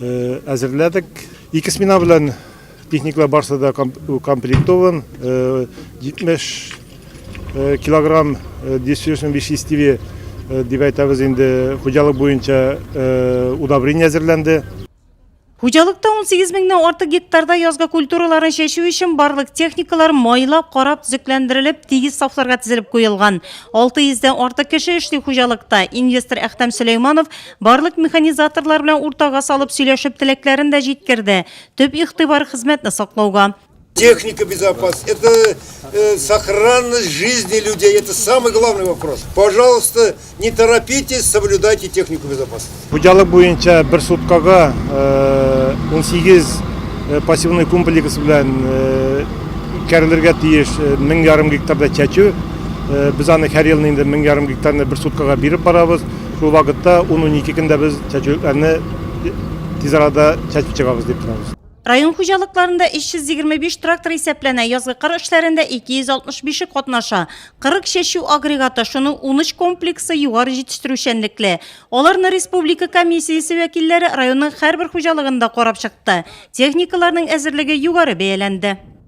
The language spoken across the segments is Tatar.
әзерләдек. Ике смена белән техникалар барысы да комплектован. 70 килограмм дистрибьюшн веществе дип әйтәбез инде, хуҗалык буенча удобрение әзерләнде. Хуҗалыкта 18 меңнән артык гектарда язгы культураларны чәчү өчен барлык техникалар майлап, карап, төзекләндерелеп, тигез сафларга тезелеп куелган. 600 дән артык кеше эшли хуҗалыкта. Инвестор Әхтәм Сөләйманов Барлык механизаторлар белән уртага салып сөйләшеп теләкләрен дә җиткерде. Төп игътибар хезмәтне саклауга. Техника безопасности, это э, сохранность жизни людей, это самый главный вопрос. Пожалуйста, не торопитесь, соблюдайте технику безопасности. Хуҗалык буенча бер суткага 18 э, э, пассивный комплекс белән э, үткәрелергә тиеш 1000 ярым гектарда чәчү. Без аны һәр елны инде 1000 ярым гектарны бер суткага биреп барабыз. Шул вакытта ун-унике көндә без чәчүлекләрне тиз арада чәчеп чыгабыз дип торабыз. Район хуҗалыкларында 325 трактор исәпләнә, язгы кыр эшләрендә 265-е катнаша. 40 чәчү агрегаты, шуның 13 комплексы югары җитештерүчәнлекле. Аларны республика комиссиясе вәкилләре районның һәрбер хуҗалыгында карап чыкты. Техникаларның әзерлеге югары бәяләнде.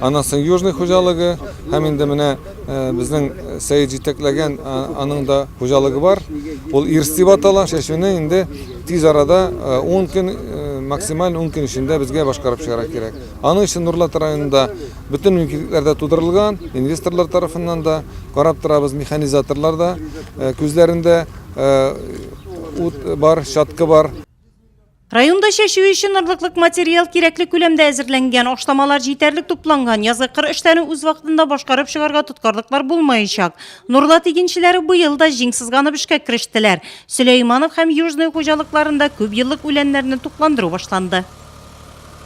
Аннан соң Южный хуҗалыгы һәм инде менә безнең Сәет җитәкләгән аның да хуҗалыгы бар. Ул Ирс дип атала. Чәчүне инде тиз арада 10 көн, максималь 10 көн эчендә безгә башкарып чыгара кирәк. Аның өчен Нурлат районында бөтен мөмкинлекләр дә тудырылган, инвесторлар тарафыннан да карап торабыз, механизаторлар да күзләрендә ут бар, чаткы бар. Районда чәчү өчен орлыклык материал кирәкле күләмдә әзерләнгән, ашламалар җитәрлек тупланган, язгы кыр эшләрен үз вакытында башкарып чыгарга тоткарлыклар булмаячак. Нурлат игенчеләре быел да җиң сызганып эшкә керештеләр. Сөләйманов һәм Южный хуҗалыкларында күп еллык үләннәрне тукландыру башланды.